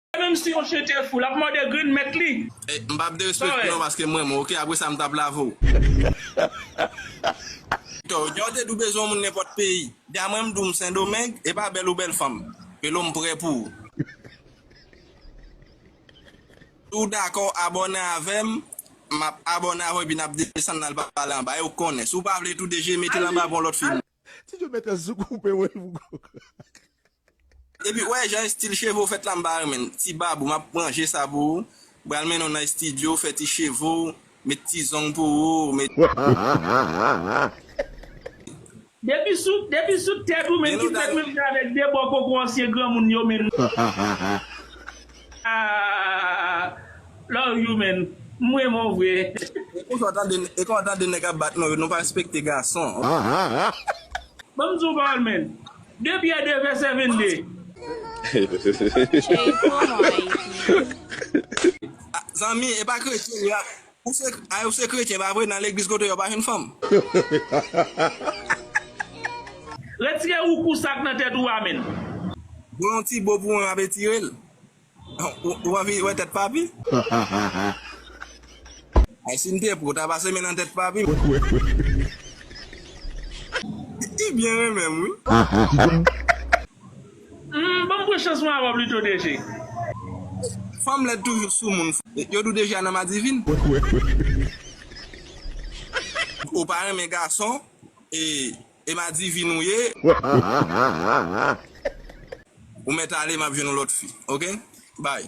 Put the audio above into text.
E menm si yon chien te fou lap mòde grenn mèt li. M pap derespekte w non paske m renmen w ok apresa m tap lave w. Too janw te di w bezwen yon moun nenpòt peyi Dja mwen m di w m sendomeng epa bèl ou bèl fanm Pelo m prè pou ou. Si w dakò w abòne avè m map abòne avè w epi nap desann nal pale anba e ou konnen si w pa vle tou deje mete l anba pou yon lòt fi. Ti jo mèt sou koupe wen pou kok. Epi wè jan estil cheve w fèt la m pa renmenl. Ti babou map ranje sa pou ou, bral mennen w nan estidyo, fè ti cheve w, met ti zong pou ou, met. Depi sou depi sou tèt ou menm ki fèt menm jan avèk debò koko ansyen granmoun yo menm. Ahh love you man m renmen w vre. E konsa w tande e konsa w tande nèg ap bat nou yo nou pa respekte gason ohh. Banm diw pawòl man. De Pyè de vèsè venn de. Cheif ou an non Ayiti. Zanmi e pa kretyen yo ap. Ou se ay ou se kretyen pa vre nan legliz kote yo pa jwenn fanm. Retire ou kou sak nan tèt ou a menn. Bon yon ti bo pou mwen map etirel. Ou anvi wè tèt papi. Ay sim te pou, ta pase men nan tèt papi. Li byen renmenm wi. Humm banm pran chans mwen avan plito DG. Fanm lèd toujou sou moun fou. Yo di w Deja nan madivin. Ou pa renmen gason e madivin ou ye. Ou mèt ale map jwenn yon lòt fi ok bye.